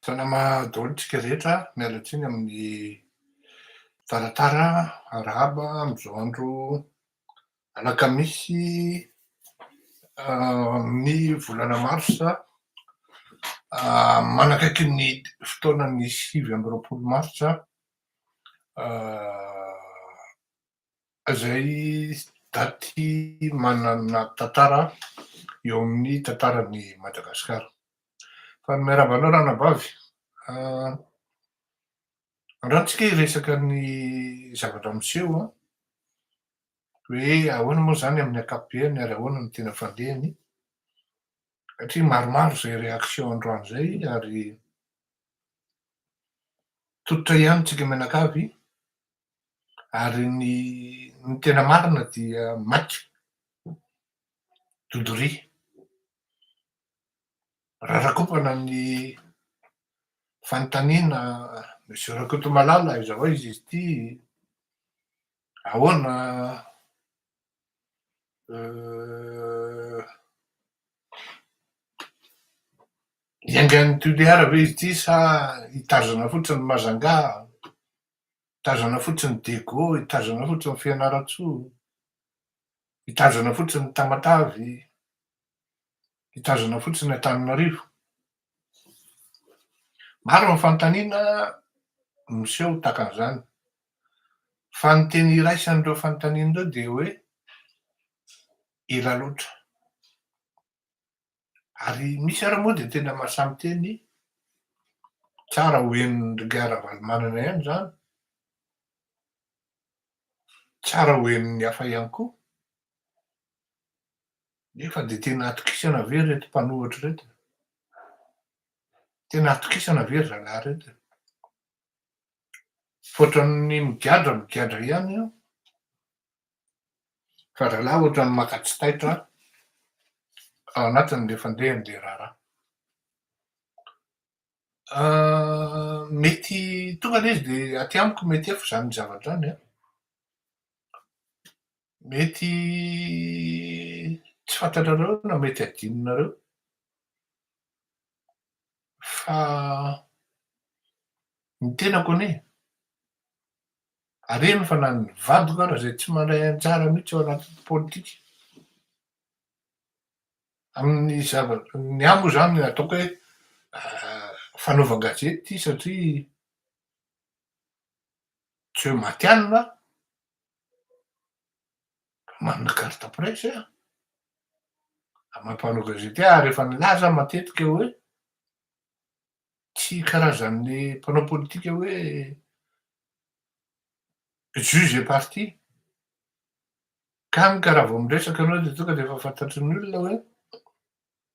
Salama daholo tsika rehetra, miala tsiny amin'ny taratara, arahaba amin'izao andro alakamisy amin'ny volana marsa, manakaiky ny fotoanan'ny sivy amby roapolo marsa. Izay daty manana tantara eo amin'ny tantaran'i Madagasikara. Fa ny miarahaba anao ranabavy. Andratsika hiresaka ny zavatra miseho an, hoe ahoana moa izany amin'ny ankapobeny ary ahoana no tena fandehany satria maromaro izay réaction androany izay ary tototra ihany tsika mianakavy ary ny ny tena marina dia maika dodoria raha rakopana ny fanontaniana monsieur Rakotomalala aiza ho aiza izy ity ahoana iaingan'ny toliara ve izy ity sa hitazona fotsiny Majunga Hitazana fotsiny ny Dego, hitazana fotsiny ny Fianarantsoa, hitazana fotsiny ny Tamatave, hitazana fotsiny ny Antananarivo. Maro ny fanontaniana miseho tahaka an'izany. Fa ny teny iraisan'ireo fanontaniana ireo dia hoe ela loatra. Ary misy ary moa dia tena maha samy teny, tsara ho henon'ny Reggae Ravalomanana ihany izany, tsara ho henon'ny hafa ihany koa. Nefa dia tena atokisana ve ireto mpanohitra ireto? Tena atokisana ve ry zalahy ireto? Tsy ohatran'ny migadra migadra ihany io. Fa zalahy ohatran'ny maka tsy taitra ao anatiny le fandehany le raharaha. Mety tonga aloha izy dia aty amiko mety efa izany zavatra izany an! Mety tsy fantatrareo na mety adinonareo fa ny tenako anie Harena fa na ny vadiko ara izay tsy mandray anjara mihitsy ao anatin'ny politika. Amin'ny zavatra, ny ahy moa izany ataoko hoe fanaovan-gazety ity satria tsy hoe matihanina aho fa manana carte presse aho ary maha mpanao gazety ahy ary efa nilaza aho matetika hoe. tsy karazan'ny mpanao politika hoe juge et parti. Hany ka raha vao miresaka ianao dia tonga dia efa fantatry ny olona hoe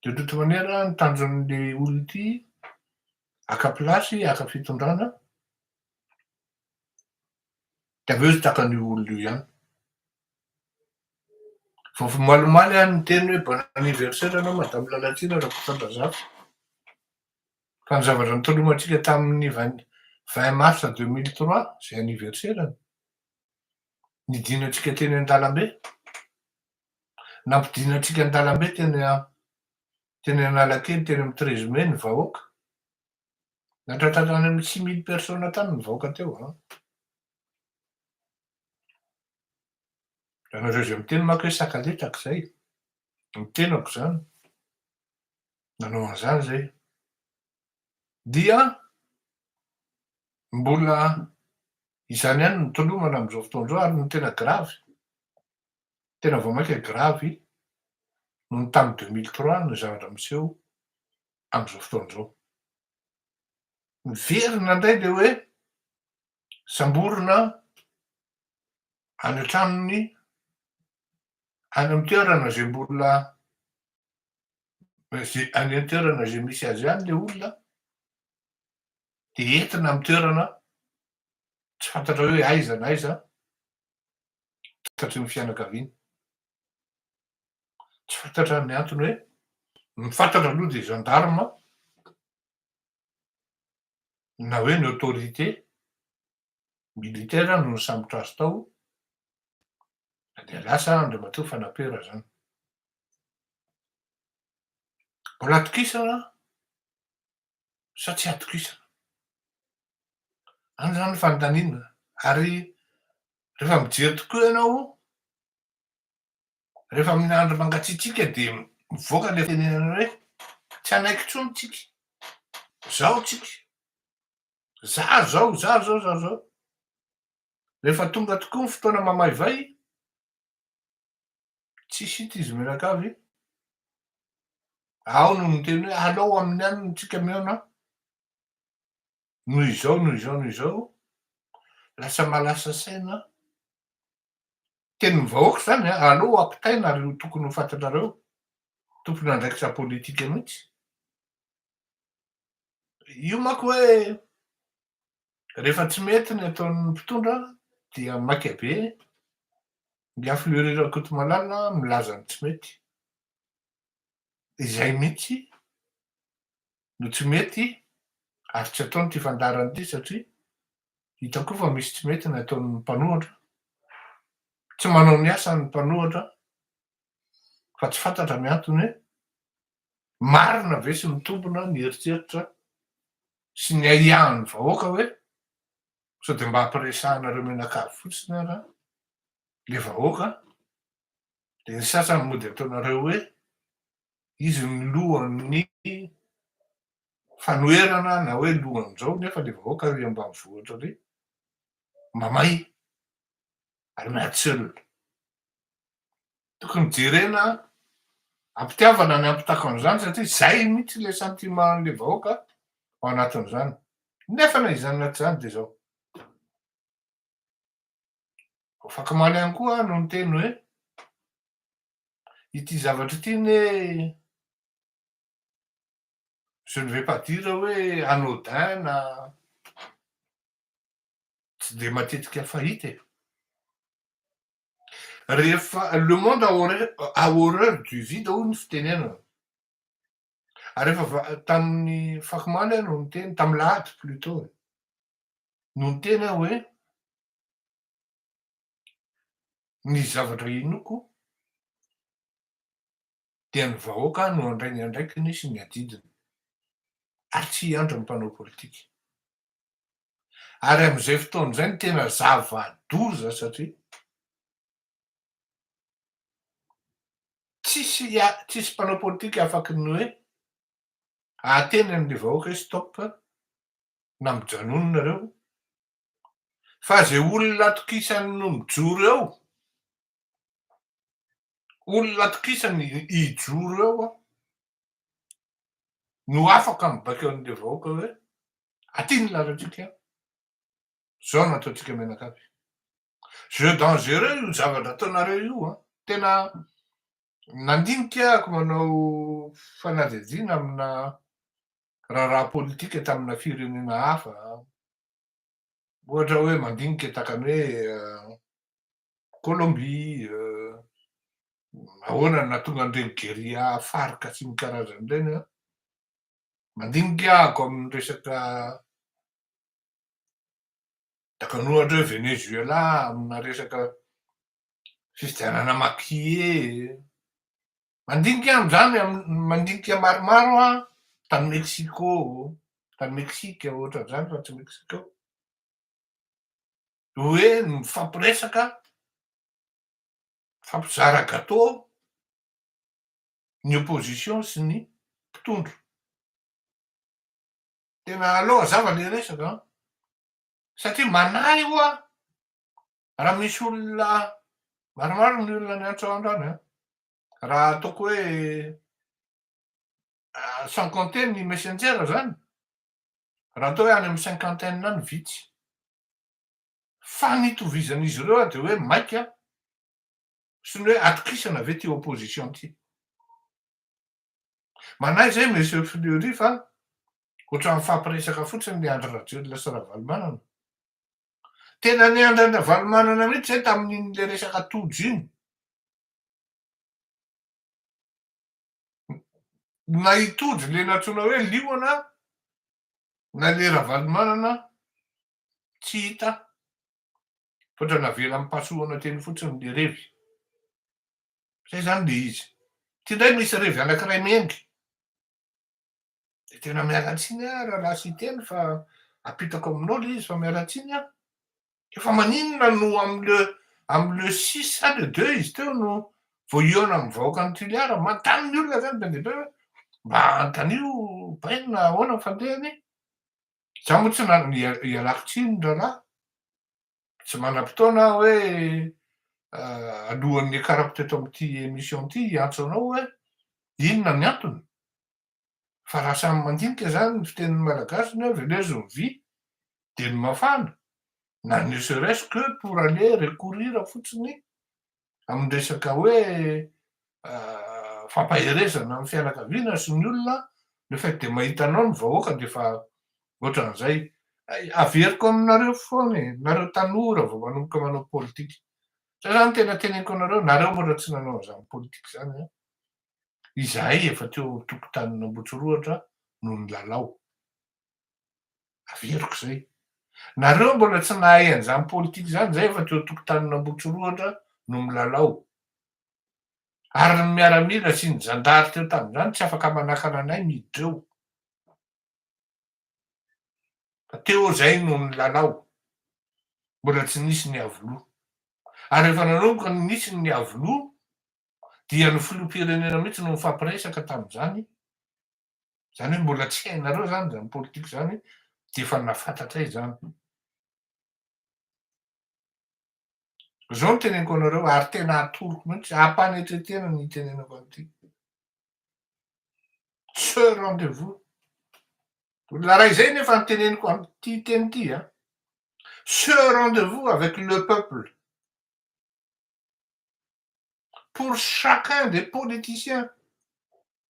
dia ohatry ny manery ny tanjon'ity olona ity haka place, haka fitondrana de avy eo izy traka an'io olona io ihany vao malimaly aho niteny hoe bon anniversaire anao madame Lalatiana Rakotondrazafy fa ny zavatra nitolomantsika tamin'ny vingt vingt mars deux mille trois izay anniversaire-ny nidinantsika teny an-dalambe nampidinantsika an-dalambe teny teny Analakely teny amin'ny treize mai ny vahoaka Nandratra hatrany amin'ny six mille personnes hatrany ny vahoaka teo an! Ianareo izay miteny manko hoe sakaletraka izay, ny tenako izany, nanao an'izany izay. Dia mbola izany ihany no tolomana amin'izao fotoana izao ary ny tena gravy, tena vao mainka gravy noho ny tamin'ny deux mille trois ny zavatra miseho amin'izao fotoana izao. Miverina indray ilay hoe samborina any an-tranony, any amin'ny toerana izay mbola any amin'ny toerana izay misy azy any ilay olona, dia entina amin'ny toerana tsy fantatra hoe aiza na aiza, tsy fantatry ny fianakaviany. Tsy fantatra ny antony hoe, ny fantatra aloha dia gendarme na hoe ny autorité militaire no nisambotra azy tao dia lasa Andriamatoa Fanapera izany. Mbola atokisana sa tsy atokisana? Any izany ny fanontaniana. Ary rehefa mijery tokoa ianao Rehefa amin'ny andro mangatsiatsiaka dia mivoaka ilay fitenenana hoe tsy hanaiky intsony tsika, zao tsika, zary zao, zary zao, zary zao. Rehefa tonga tokoa ny fotoana mamaivay, tsisy hita izy mianakavy, ao no miteny hoe alao amin'ny any no tsika mihaona, noho izao, noho izao, noho izao, lasa malasa saina, tenin'ny vahoaka izany an, aleo ampitaina ary io tokony ho fantatrareo tompon'andraikitra politika mihitsy, io manko hoe rehefa tsy mety ny ataon'ny mpitondra dia maika be ny aflure Rakotomalala milaza ny tsy mety, izay mihitsy no tsy mety ary tsy ataony ity fandaharana ity satria Hitako fa misy tsy mety ny ataon'ny mpanohatra. Tsy manao ny asany ny mpanohatra fa tsy fantatra ny antony hoe marina ve sy mitombina ny eritreritra sy ny ahiahin'ny vahoaka hoe sao dia mba hampiresahanareo mianakavy fotsiny ara le vahoaka dia ny sasany mody ataonareo hoe izy ny lohan'ny fanoherana na hoe lohan'izao nefa ilay vahoaka ary ambanivohitra ary mamay ary miady tsy ela. Tokony jerena ampitiavana ny ampitako an'izany satria izay mihitsy ilay sentiment an'ilay vahoaka ao anatin'izany. Nefa na izany na tsy izany dia izao. Fakamaly ihany koa no niteny hoe ity zavatra ity ne je ne vais pas dire hoe anodin na tsy dia matetika fahita e, rehefa le monde a horreur du vide hoy ny fitenenana, ary efa tamin'ny fako omaly aho no niteny, tamin'ny lahady plutot e, no niteny aho hoe ny zavatra inoako dia ny vahoaka no handray ny andraikiny sy ny adidiny ary tsy hiandry ny mpanao politika. Ary amin'izay fotoana izay no tena zava-doza satria tsisy tsisy mpanao politika afaky ny hoe ahateny amin'ny vahoaka hoe stop na mijanona nareo fa izay olona atokisany no mijoro eo Olona atokisany hijoro eo aho no afaka mibaiko an'ilay vahoaka hoe aty ny lalantsika, zao no ataontsika mianakavy. Jeu dangereux io zavatra ataonareo io an! Tena nandinika aho manao fanadihadiana amina raharaha politika tamina firenena hafa, ohatra hoe mandinika takany hoe Colombie, ahoana no nahatonga an'ireny guerilla Farc sy ny karazany ireny an? Mandinika ahako amin'ny resaka takany ohatra hoe Venezuela amina resaka fifidianana maquillé, mandinika amin'izany amin'ny mandinika maromaro aho tany Mexico, tany Mexique ohatra izany raha tsy Mexico, hoe mifampiresaka, mifampizara gateau ny opposition sy ny mpitondra. Tena aleo hazava le resaka an! Satria manahy hoa raha misy olona maromaro ny olona niantso androany an! Raha ataoko hoe sans compter ny messenger zany, raha atao hoe any amin'ny cinquantaine any vitsy Fa ny itovizan'izy ireo dia hoe maika sy ny hoe atokisana ve ity opposition ity. Manahy izay Monsieur Fleury fa ohatran'ny mifampiresaka fotsiny ny Andry Rajoelina sy Ravalomanana. Tena ny Andry Ravalomanana mihitsy izay tamin'iny ilay resaka Tojo iny. na i Tojo le nantsoina hoe liona na le Ravalomanana tsy hita fa tra navela ampahasoana teny fotsiny le revy zay zany le izy ty ndray misy revy anakiray mengy Dia tena miala tsiny aho rahalahy Siteny fa apitako aminao le izy fa miala tsiny aho. Efa maninona no amle amle six sa le deux izy teo no vao hihaona amin'ny vahoaka ny Toliara. Manontany ny olona zany be dia be hoe mba antanio bainina ahoana ny fandehany. Za moa tsy ialako tsiny rahalahy. tsy manam-potoana aho hoe alohan'ny hiakarako teto amin'ity émission ity hiantso anao hoe inona ny antony fa raha samy mandinika izany ny fitenin'ny malagasy ny hoe velezo ny vy dia ny mafana na ne serait-ce que pour aller recourir fotsiny amin'ny resaka hoe fampaherezana amin'ny fianakaviana sy ny olona, le fait dia mahita anao ny vahoaka dia efa ohatran'izay. Averiko aminareo foana e, nareo tanora vao manomboka manao politika, zay zany ny tena teneniko anareo, nareo ohatra tsy nanao an'izany politika izany an, izahay efa teo an-tokotanin'Ambohitsirohatra no nilalao. Averiko izay. Nareo mbola tsy nahay an'izany politika izany, izay efa teo tokotanin'Ambohitsirohatra no milalao. Ary ny miaramila sy ny zandary teo tamin'izany tsy afaka manakana anay miditra eo. Fa teo izay no nilalao. Mbola tsy nisy ny Avlo. Ary rehefa nanomboka nisy ny Avlo dia ny filoham-pirenena mihitsy no nifampiresaka tamin'izany Izany hoe mbola tsy hainareo izany izany politika izany dia efa nafatratray izany. Izao no teneniko anareo ary tena atoroko mihitsy, ampanetretena ny itenenako an'ity. Ce rendez-vous. Olona raha izay nefa ny teneniko an'ity teny ity, hein. Ce rendez-vous avec le peuple. Pour chacun des politiciens.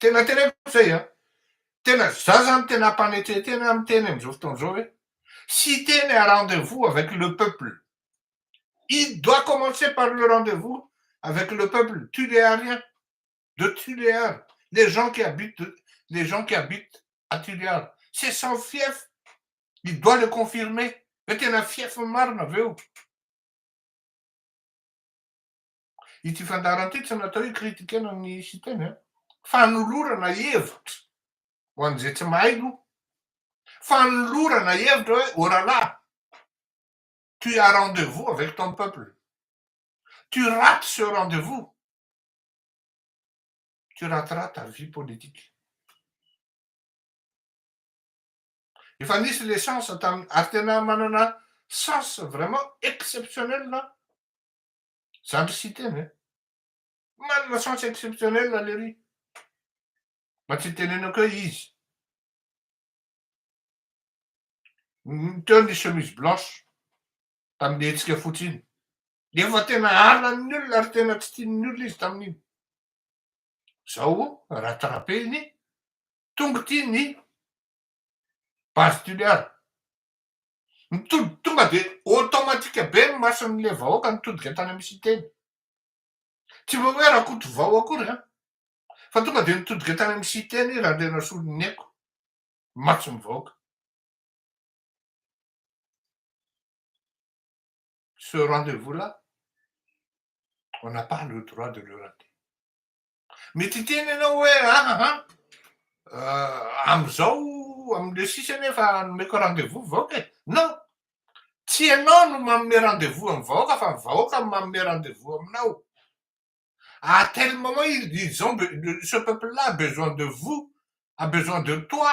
Tena teneniko zay an! Tena za zany tena ampanetren tena miteny amzao fotoana zao hoe cite ny rendez vous avec le peuple il doit commencer par le rendez vous avec le peuple Tuléarien de Tuléar les gens qui habitent les gens qui habitent à Tuléar c'est son fief il doit le confirmer hoe tena fief ny marina aveo Ity fandaharana ity tsy natao hikritikena ny Siteny a. Fanolorana hevitra ho an'izay tsy mahay aloha. Fanolorana hevitra hoe oh là là, tu as rendez-vous avec ton peuple, tu rates ce rendez-vous, tu rateras ta vie politique. Efa nisy le chance tamin'ny, ary tena manana chance vraiment exceptionnelle Zany ry Siteny e! Manana chance exceptionnelle lery. Mba tsy tenenako hoe izy. Teo ny chemise blanche tamin'ny hetsika fotsy iny. Efa tena halan'ny olona ary tena tsy tian'ny olona izy tamin'iny. Zao rattraper-ny tonga ity ny base Toliara. Mitodika tonga dia automatique be ny mason'ilay vahoaka nitodika tany amin'ny Siteny. Tsy mba hoe Rakotovao akory an! Fa tonga dia nitodika tany amin'ny Siteny i Randrianasoloniaiko, mason'ny vahoaka. Ce rendez-vous là, on n'a pas le droit de le rater. Mety hiteny ianao hoe ahaha, amin'izao amin'ilay sisany efa nomeko rendez-vous ny vahoaka e. Non! Tsy ianao no manome rendez-vous amin'ny vahoaka fa ny vahoaka no manome rendez-vous aminao. À tel moment, ils ont, ce peuple-là a besoin de vous, a besoin de toi.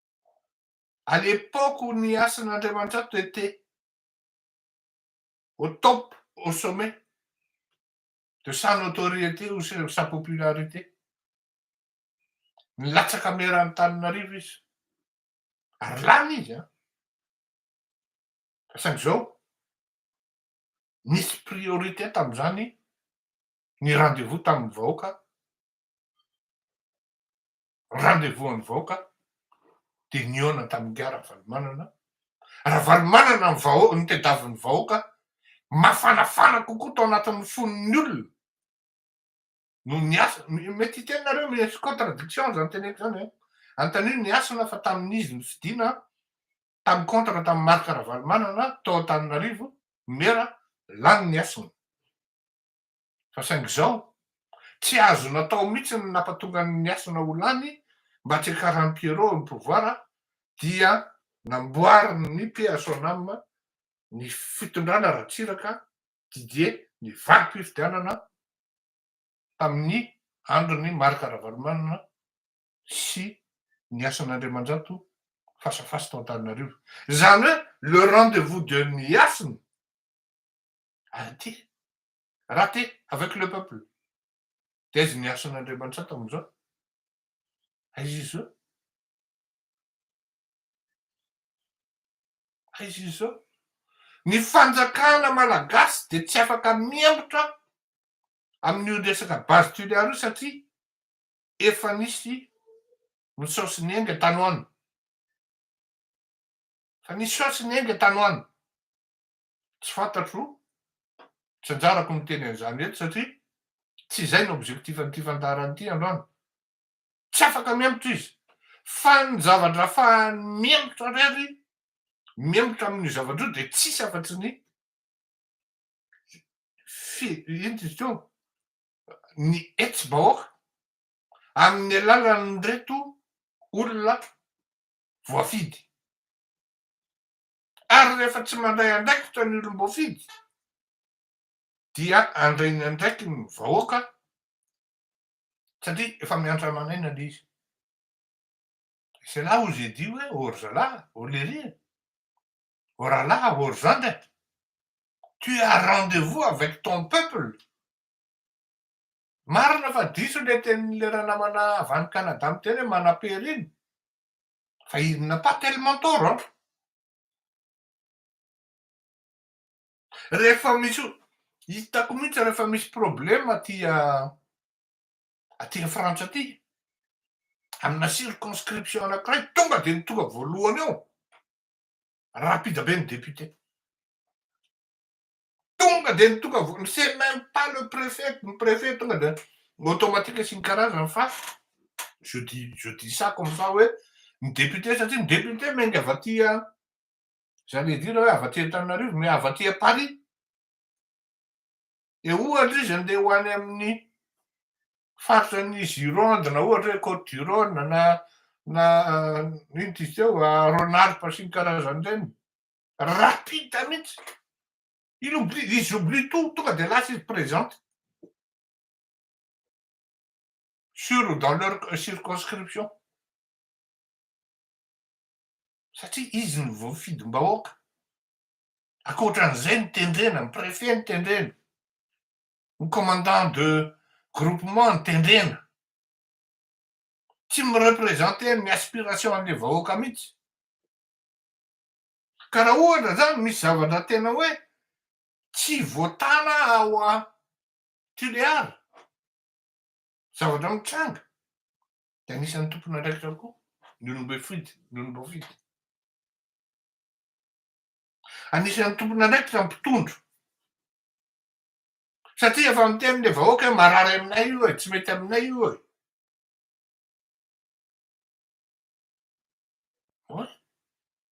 à l'époque où ny asan'Andriamanitrato était au top, au sommet de sa notoriété ou sa popularité, nilatsaka maire Antananarivo izy ary lany izy an! Fa saingy izao nisy priorité tamin'izany ny rendez-vous tamin'ny vahoaka rendez-vous an'ny vahoaka dia nihaona tamin'i Ingahy Ravalomanana, Ravalomanana ny vahoaka, ny tedavon'ny vahoaka, mafanafana kokoa tao anatin'ny fon'ny olona no ny hasina, mety hiteny nareo misy contradiction zany teneko zany e, antanio ny hasina fa tamin'izy ny fidina tamin'ny contre tamin'ny Marc Ravalomanana tao Antananarivo, Mera, lany ny hasina. Fa saingy izao, tsy azo natao mihitsy ny nampatonga an'i Hasina ho lany mba tsy hakaran'i Pierrot ny pouvoir dia namboarin'ny PSONAM ny fitondrana Ratsiraka Didier ny valim-pifidianana tamin'ny andron'i Marc Ravalomanana sy ny Hasina Andriamanjato face à face tao Antananarivo. Izany hoe le rendez-vous de ny Hasina Arrete! Rate avec le peuple! Dia aiza ny asan' Andriamanitsato amin'izao? Aiza izy izao? Aiza izy izao? Ny fanjakana malagasy dia tsy afaka mihemotra amin'io resaka base tuléar io satria efa nisy misao sy niainga tany ho any. Fa nisao sy niainga tany ho any. Tsy fantatro, tsy anjarako ny miteny an'izany eto satria tsy izay no objectif an'ity fandaharana ity androany. Tsy afaka mihemotra izy. Fa ny zavatra afahany mihemotra irery, mihemotra amin'io zavatra io dia tsisy afa-tsy ny fi, inona izy teo, ny hetsi-bahoaka amin'ny alalan'ireto olona voafidy. Ary rehefa tsy mandray andraikitra ny olom-boafidy dia handray ny andraikiny ny vahoaka satria efa miantra aman'aina ilay izy. C'est là où j'ai dit hoe ô ry zalahy, ô lery e, ô rahalahy, ô ry zandry e, tu as rendez-vous avec ton peuple. Marina fa diso ilay tenin'ilay ranamanà avy any Canada miteny hoe manapery iny, Fa il n'a pas tellement tort an! Rehefa misy, hitako mihitsy rehefa misy problème aty aty Frantsa aty, amina circonscription anankiray, tonga dia ny tonga voalohany eo, rapida be ny député. Tonga dia nitonga vola, c'est même pas le préfet, ny préfet tonga dia automatique asiany karazany fa je dis, je dis ça comme ça hoe ny député satria ny député miainga avy aty j'allais dire hoe avy aty Antananarivo mais avy aty Paris. Dia ohatra izy andeha ho any amin'ny faritra ny Gironde na ohatra hoe Côte du Rhône na na ino ty teo Rhône Alpes sy ny karazany ireny Rapide mihitsy. Il oublie, ils oublient tout, tonga dia lasa izy présente. Sur ou dans leur circonscription. Satria izy no voafidim-bahoaka. Ankoatran'izay ny tendrena, ny préfet ny tendrena. Ny commandant de groupement ny tendrena. Tsy mi-représenter ny aspiration an'ilay vahoaka mihitsy. Ka raha ohatra zany misy zavatra tena hoe tsy voatàna ao a Tulear, zavatra mitranga, dia anisan'ny tompon'andraikitra koa ny olom-boafidy, ny olom-boafidy. Anisan'ny tompon'andraikitra ny mpitondra. Satria efa miteny ilay vahoaka hoe marary aminay io e, tsy mety aminay io e.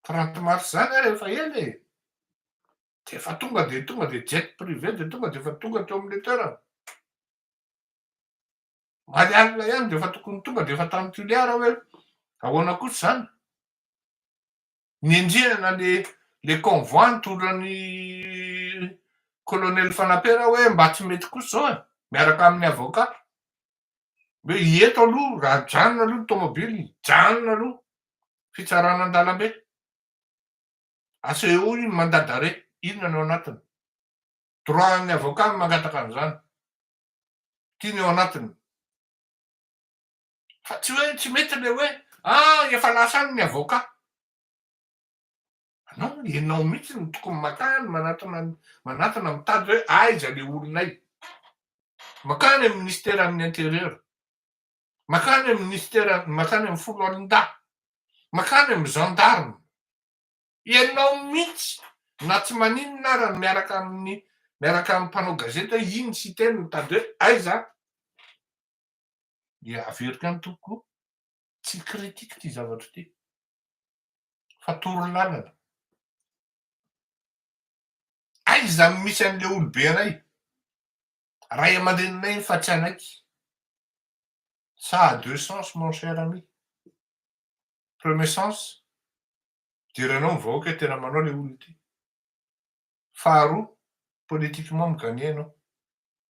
Prank marc zany ary efa ela e! Dia efa tonga dia tonga dia jet privé dia tonga dia efa tonga teo amin'ilay toerana. Maly alina ihany dia efa tokony tonga dia efa tany Tuliara hoe ahoana kosa izany. Niandrianana le le convoi nitoran'ny colonel Fanapera hoe mba tsy mety kosa izao e, miaraka amin'ny avocat. hoe eto aloha raha ajanona aloha ny tomobile janona aloha fitsarana an-dalambe asehoy ny mandat d'arret inona no anatiny droit an'ny avocat no mangataka an'izany ty ny ao anatiny fa tsy hoe tsy mety le hoe ah efa lasa any ny avocat Anao anie, ianao mihitsy no tokony makany manatona manatona mitady hoe aiza le olonay. Makany amin'ny minisiteran'ny interieur, makany amin'ny minisitera, makany amin'ny foloalindahy, makany amin'ny gendarme. Ianao mihitsy na tsy maninona ara ny miaraka amin'ny miaraka amin'ny mpanao gazety hoe iny sy iteny mitady hoe aiza dia averiko any tompoko tsy critique ity zavatra ity. fa toro lalana. Aiza no misy an'ilay olobe iray, ray aman-dreninay fa tsy anaiky. Ça a deux sens mon cher ami. Premier sens, idiranao ny vahoaka hoe tena manao ilay olona ity. Faharoa, politiquement mi-gagner ianao.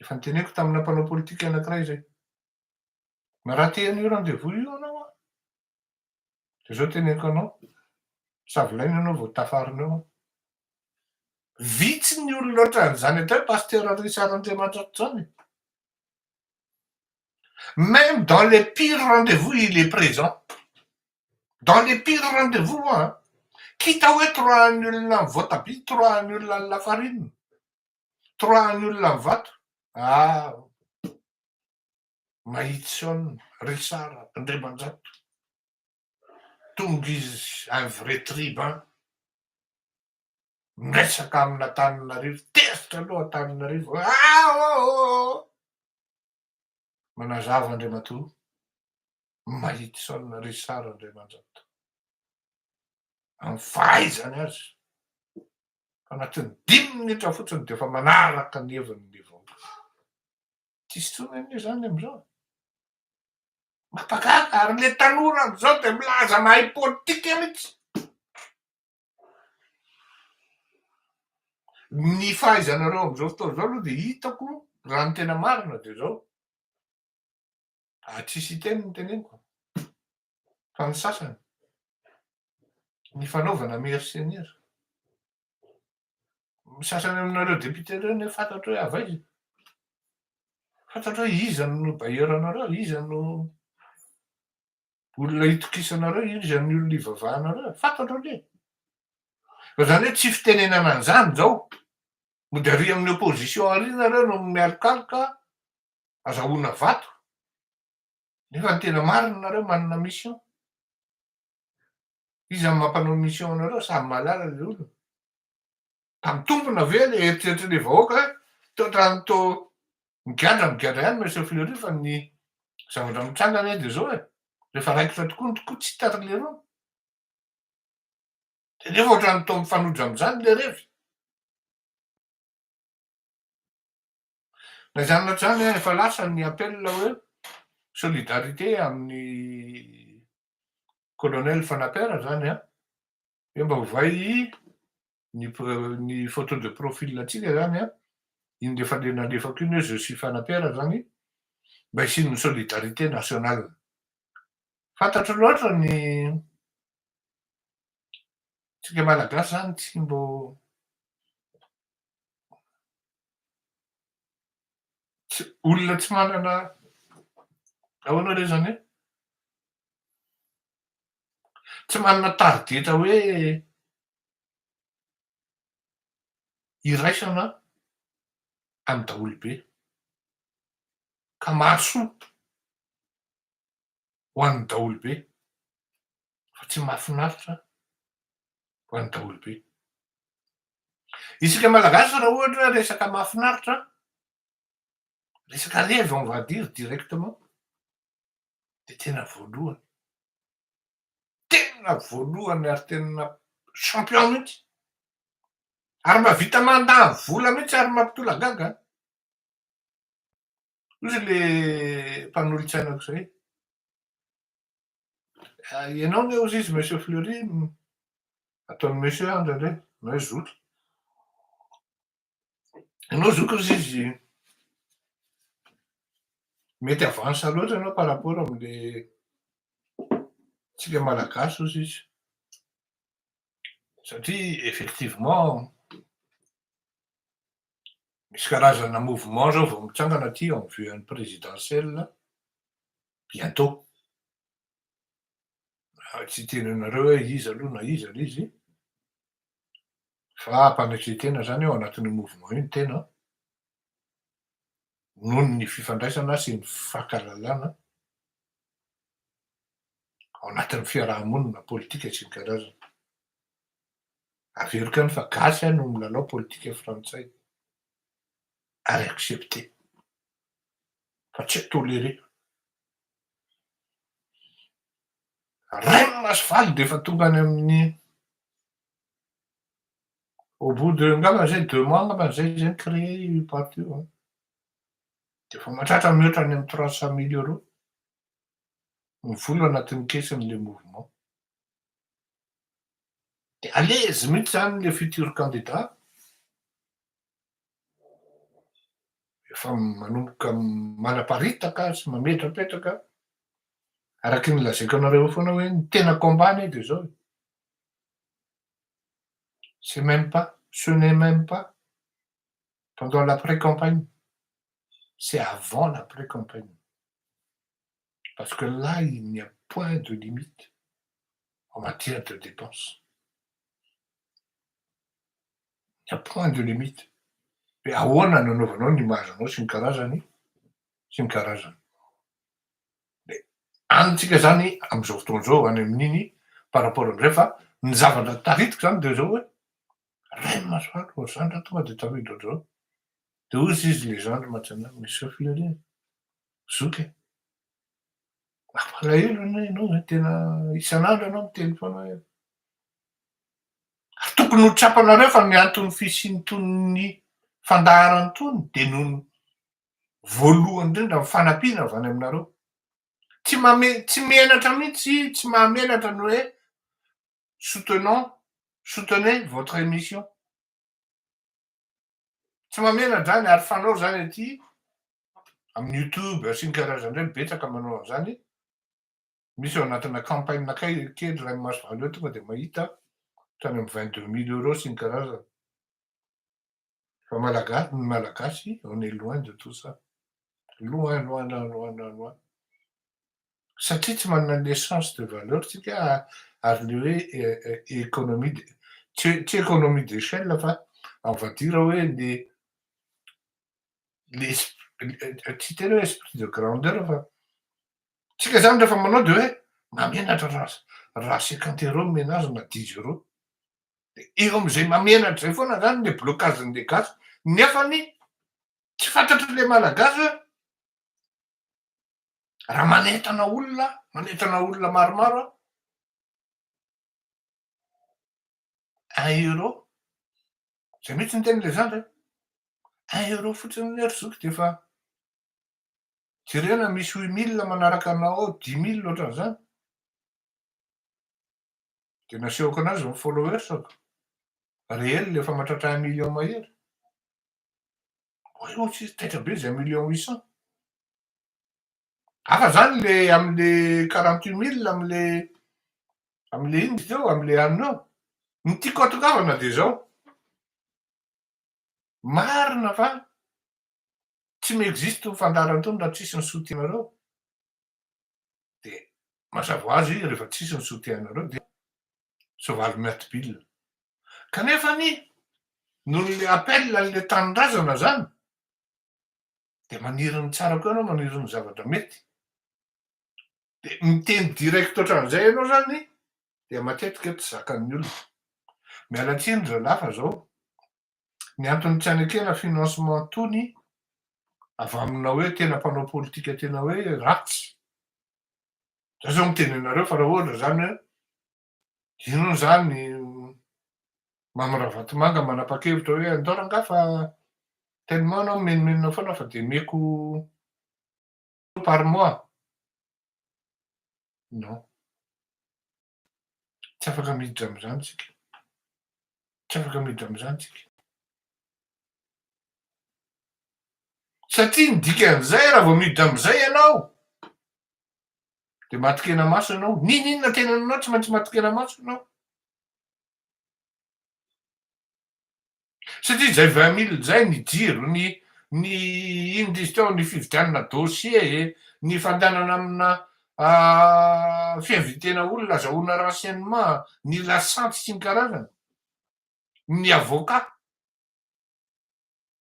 Efa noteneniko tamina mpanao politika anankiray izay. Narate an'io rendez-vous io ianao an! Dia izao teneniko anao, savolaina ianao vao tafarina eo an! Vitsy ny olona ohatran'izany atao hoe Pasteur Richard Andriamanitra ohatr'izany e! Même dans les pires rendez-vous il est présent. Dans les pires rendez-vous an! K'hita hoe toroahan'ny olona ny voatabia, toroahan'ny olona ny lafarine. Hitroahan'ny olona ny vato? Aah! Mahits'On, Richard, Andriamanjato. Tonga izy, un vrai tribun. Miresaka amin'Antananarivo, tezitra aloha Antananarivo, aah ooh! Manazava Andriamatoa, Mahits'On, Richard, Andriamanjato. Amin'ny fahaizany azy. Anatin'ny dimy minitra fotsiny dia efa manaraka ny heviny ny vahoaka. Tsisy intsony anie izany amin'izao. Mampagaga ary ilay tanora amin'izao dia milaza mahay politika mihitsy. Ny fahaizanareo amin'izao fotoana izao aloha dia hitako raha ny tena marina dia izao. ary tsisy hiteny ny teneniko fa ny sasany ny fanaovana mercenaires ny sasany aminareo député reo nefa fantatro hoe avy aiza fantatro hoe iza no bailleur anareo iza no olona hitokisanareo iza ny olona hivavahanareo fantatro anie fa zany hoe tsy fitenenana an'izany zao mody ary amin'ny opposition ary nareo no mialokaloka azahoana vato nefa ny tena marina nareo manana mission iza no mampanao mission anareo samy mahalala le olona tam tompona ve le eritreritra le vahoaka hoe to trano to migadra migadra ihany monsieur fleury fa ny zavatra mitranga anie de zao e rehefa raikitra tokoa ny tokoa tsy tatra le rony de nefa ohatrany to mifanojo amizany le revy Na izany na izany an, efa lasa ny appel hoe solidarité amin'ny colonel Fanapera izany an, hoe mba ovay ny ny photo de profil antsika izany an, iny rehefa le nalefako iny hoe je suis Fanapera izany, mba hisian'ny solidarité nationale. Fantatro loatra ny tsika malagasy izany tsy mbô Olona tsy manana, ahoana re zany e? Tsy manana tarigetra hoe iraisana amin'ny daholobe ka mahasoa. ho an'ny daholobe fa tsy mahafinaritra ho an'ny daholobe. Isika Malagasy raha ohatra hoe resaka mahafinaritra, resaka revy on va dire directement, dia tena voalohany, tena voalohany ary tena champion mihitsy, ary mahavita mandany vola mihitsy ary mampitolagaga. Hoy le mpanolotsaina aok'izay, ianao anie hozy izy Monsieur Fleury, ataony Monsieur aho indraindray, na hoe zoky. Ianao zoky hozy izy, mety avansa loatra ianao par rapport amle tsika malagasy hozy izy. Satria effectivement, Misy karazana mouvement zao vao mitsangana aty en vue an'ny présidentielle bientôt. Tsy hiteny anareo hoe iza aloha na iza le izy fa mpanetren-tena zany ao anatin'io mouvement io ny tena noho ny fifandraisana sy ny fankahalalana ao anatin'ny fiaraha-monina politika sy ny karazany. Averiko any fa gasy aho no milalao politika frantsay ary accepter fa tsy tolerer. Rainina sy faly dia efa tonga any amin'ny au bout de angamba izay deux mois angambany izay izay ni-creer io parti io an! Dia efa mahatratra mihoatra any amin'ny trois cent mille euros ny vola anatin'ny caisse-n'ilay mouvement. Dia à l'aise mihitsy izany le futur candidat. Efa manomboka manaparitaka sy mametrapetraka araky ny lazaiko anareo eo foana hoe ny tena combat anie dia izao e. C'est même pas, ce n'est même pas pendant la pré-campagne, c'est avant la pré-campagne. parce que là il n'y a point de limite en matière de dépense. Il n'y a point de limite. Dia ahoana no anaovanao ny image anao sy ny karazany sy ny karazany. Dia any tsika izany amin'izao fotoana izao any amin'iny par rapport amin'izay fa ny zavatra taritiko izany dia izao hoe Rainy Masoandro vao zandry raha tonga dia tafiditra ao daholo. Dia hoy izy, les gendres maintenant, mais sauf le rien. Zoky e! Mampalahelo anie ianao e, tena isan'andro ianao miteny foana hoe ary tokony ho tsapanareo fa ny anton'ny fisian'itony fandaharana itony dia noho ny voalohany indrindra ny fanampiana avy any aminareo. Tsy mame, tsy menatra mihitsy, tsy mahamenatra ny hoe soutenons, soutenez votre émission. Tsy mamela zany ary fanao zany aty amin'ny youtube sy ny karazany ireny betsaka manao an'izany. Misy ao anatina campagne kay kely rain'ny maso valo eo tonga dia mahita hatrany amin'ny vingt deux mille euros sy ny karazany. Fa malagasy ny malagasy on est loin de tout ça. Loin loin loin loin loin loin. satria tsy manana ny essence de valeur tsika ary le hoe economie de tsy economie d'echelle fa on va dire hoe le le tsy tena hoe esprit de grandeur fa tsika zany refa manao de hoe mamenatra ra ra cinquante euro no omena azy na dix euro de eo amzay mamenatra zay foana zany le blocage ny gasy nefany tsy fantatry le malagasy hoe Raha manentana olona aho, manentana olona maromaro aho, un euro, zay mihitsy ny teny lezandra e, un euro fotsiny anie ry zoky dia efa jerena misy huit mille manaraka anao ao, dix mille ohatran'izany, dia nasehoko anao izao ny followers-ko, réel efa mahatratra un million mahery. Voyons tsisy taitra be zay million huit cent. Hafa zany le amle quarante huit mille amle amle inona izy teo amle anona eo. Ny tiako hatongavana dia zao, marina fa tsy mi-existe tony fandaharana tony raha tsisy ny soutien-nareo, Dia mazava ho azy rehefa tsisy ny soutien-nareo dia soavaly miatibilina. Kanefa anie noho ny appel an'ilay tanindrazana izany dia maniry ny tsara koa ianao, maniry ny zavatra mety. Dia miteny direct ohatran'izay ianao izany dia matetika tsy zakan'ny olona. Miala tsiny ry zalahy fa izao Ny antony tsy hanekena financement tony avy amina hoe tena mpanao politika tena hoe ratsy. Za zao miteny anareo fa raha ohatra zany hoe inona zany Mamy Ravatomanga manapa-kevitra hoe andao rangahy fa tellement anao mimenomenona foana fa dia meko par mois. Non. Tsy afaka miditra amin'izany isika. Tsy afaka miditra amin'izany isika. Satria ny dikan'izay raha vao miditra amin'izay ianao, dia matin-kena maso ianao. N'inon'inona tenananao tsy maintsy matin-kena maso ianao. Satria izay vingt mille izay ny jiro, ny ny ino izy teo, ny fividianana dossier e, ny fandehanana amina fihavian-tena olona azahoana renseignement, ny lasantsy sy ny karazany, ny avocat.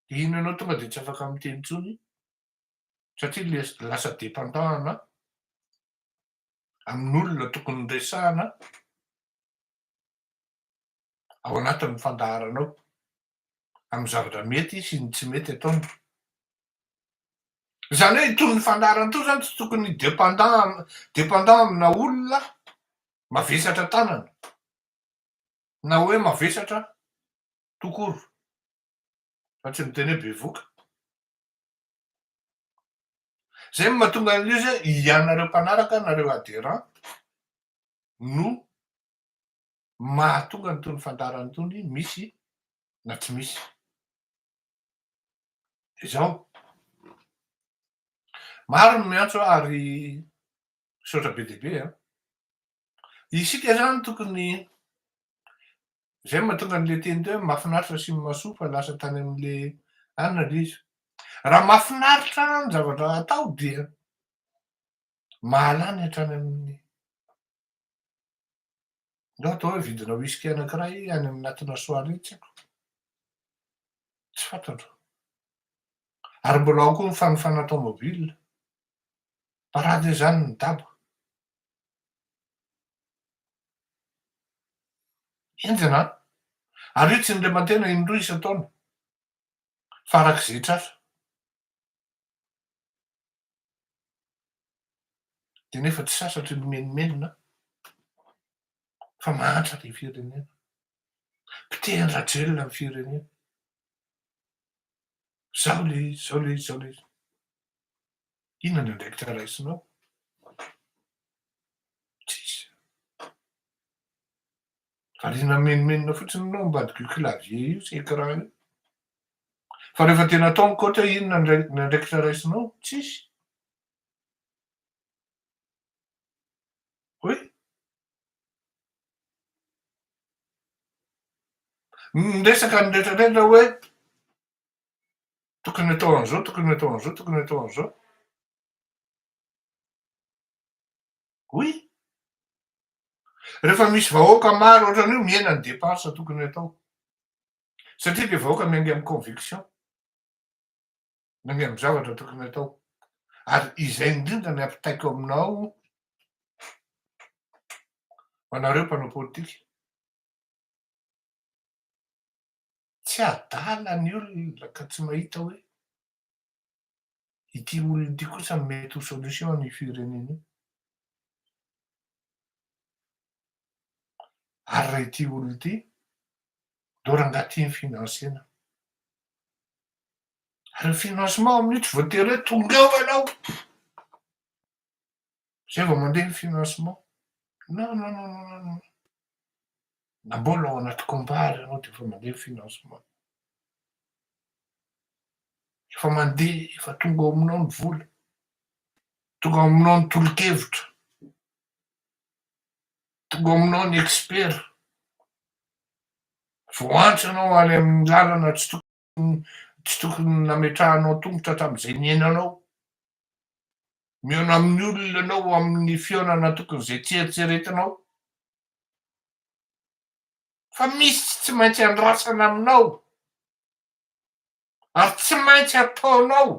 Dia iny ianao tonga dia tsy afaka miteny intsony satria lasa dépendant ana amin'olona tokony resahana. ao anatin'ny fandaharanao amin'ny zavatra mety sy ny tsy mety ataony. Izany hoe itony ny fandaharana itony izany tsy tokony dépendant dépendant amina olona mavesatra tanana na hoe mavesatra tout court fa tsy miteny hoe bevoka. Zay mahatonga an'io zay ianareo mpanaraka nareo adhérent no mahatonga ny tony fandaharana tony misy na tsy misy de zao maro ny miantso ary misaotra be dia be a isika zany tokony zay mahatonga an'le teny teo mafinaritra sy masoa fa lasa tany amle anina le izy raha mafinaritra ny zavatra atao dia mahalany hatrany amin'ny Ndao atao hoe vidina whisky anankiray any amin'ny natina soirée tsy haiko. Tsy fantatro. Ary mbola ao koa ny fanofana tomobile. Parade izany ny daba. Enjana an! Ary io tsy indremantena indroa isan-taona fa araka izay tratra. Dia nefa tsy sasatry ny menomenona fa mahantra ny firenena. Pitehan-dRajelina ny firenena. Zao le izy, zao le izy, zao le izy. Inona ny andraikitra raisinao? Tsisy. Variana menomenona fotsiny ianao ambadika io clavier io sy écran io. Fa rehefa tena atao ny coach inona ny andraikitra raisinao? Tsisy. Oui. Miresaka ny rehetra rehetra hoe tokony atao an'izao, tokony atao an'izao, tokony atao an'izao. Oui. Rehefa misy vahoaka maro ohatran'io mihena ny dépenses tokony atao. Satria ilay vahoaka miainga amin'ny conviction. Miainga amin'ny zavatra tokony atao. Ary izay indrindra ny ampitaiko aminao ho anareo mpanao politika. Tsy adala ny olona ka tsy mahita hoe Ity olona ity kosa no mety ho solution an'io firenena io. Ary raha ity olona ity ndao rangahy tia financena. Ary ny financement amin'io tsy voatery hoe tongava ianao. Zay vao mandeha ny financement. Non non non non non non. Na mbola ao anaty combat aza ianao dia efa mandeha ny financement. Efa mandeha, efa tonga ao aminao ny vola. Tonga ao aminao ny tolo-kevitra. Tonga ao aminao ny expert. Vao antso ianao any amin'ny lalana tsy tokony. tsy tokony nametrahanao tongotra hatramin'izay niainanao. Mihaona amin'ny olona ianao amin'ny fihaonana tokony izay tsy eritreretinao. Fa misy tsy maintsy andrasana aminao ary tsy maintsy ataonao.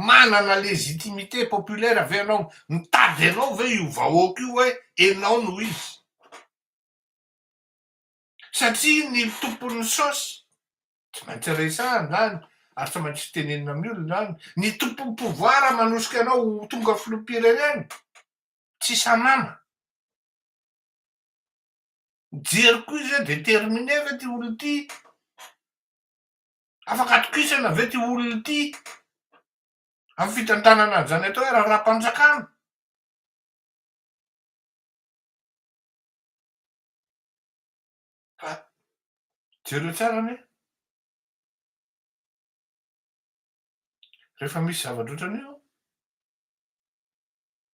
Manana légitimité populaire ve ianao? Mitady anao ve io vahoaka io hoe ianao no izy? satria ny tompon'ny saosy tsy maintsy resahina izany ary tsy maintsy tenenina amin'ny olona izany, ny tompon'ny pouvoir manosika anao ho tonga filoham-pirenena tsy sanana. Mijery koa izy hoe déterminé ve ity olona ity, afaka atokisana ve ity olona ity amin'ny fitantanana an'izany atao hoe raharaham-panjakana. Ka jereo tsara anie, rehefa misy zavatra ohatran'io an,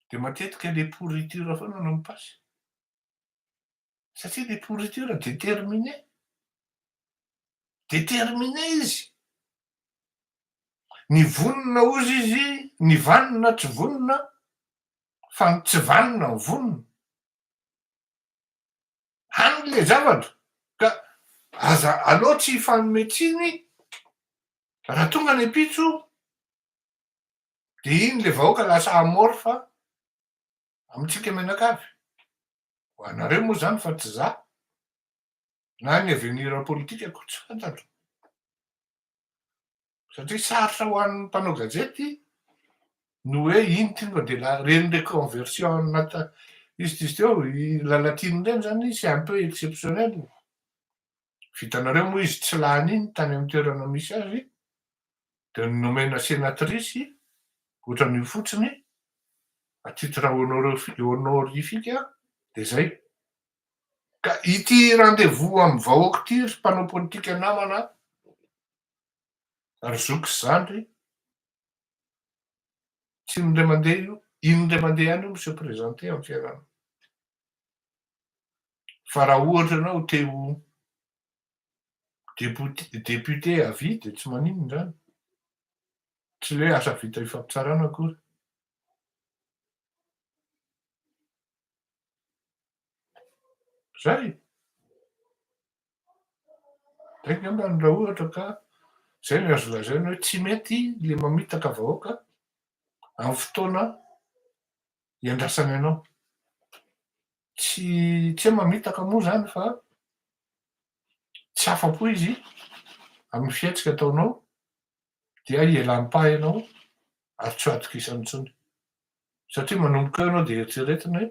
dia matetika le pourriture foana no mi-passe. Satria le pourriture déterminé, déterminé izy. Ny vonona hozy izy, ny vanona tsy vonona, fa ny tsy vanona no vonona. Any ilay zavatra ka aza aleo tsy hifanome tsiny raha tonga ny ampitso dia iny ilay vahoaka lasa amorphe amintsika mianakavy. Ho anareo moa izany fa tsy izaho na ny avenir politique-ko tsy fantatro. satria sarotra ho an'ny mpanao gazety ny hoe ino ty fa dia reny reconversion nata izy ty izy teo i Lalatiana ireny zany c'est un peu exceptionnel vitanareo moa izy tsy lany iny tany amin'ny toerana misy azy dia nomena sénatrice ohatran'io fotsiny à titre honorifique dia zay Ka ity rendez-vous amin'ny vahoaka ity ry mpanao politika namana a, ry zoky sy zandry, tsy indray mandeha io, indray mandeha ihany io mi-se présenter amin'ny fiainana. Fa raha ohatra ianao te ho député, député à vie dia tsy maninona izany. Tsy ilay hoe asa vita ifampitsarana akory. Zay. Zay ngamba ny raha ohatra ka zay ny azo lazaina hoe tsy mety le mamitaka vahoaka amin'ny fotoana iandrasany anao. Tsy tsy hoe mamitaka moa zany fa tsy afa-po izy amin'ny fihetsika ataonao dia hielam-paha ianao ary tsy ho atokisany intsony. Satria manomboka eo ianao dia eritreretina hoe,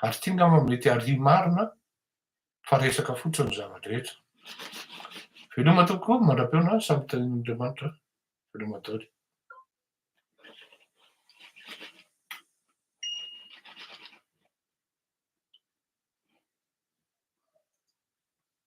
ary ity ngamba mety harihy marina fa resaka fotsiny ny zava-drehetra. Veloma tokoa mandra-peona samy hitahian'Andriamanitra veloma daholo.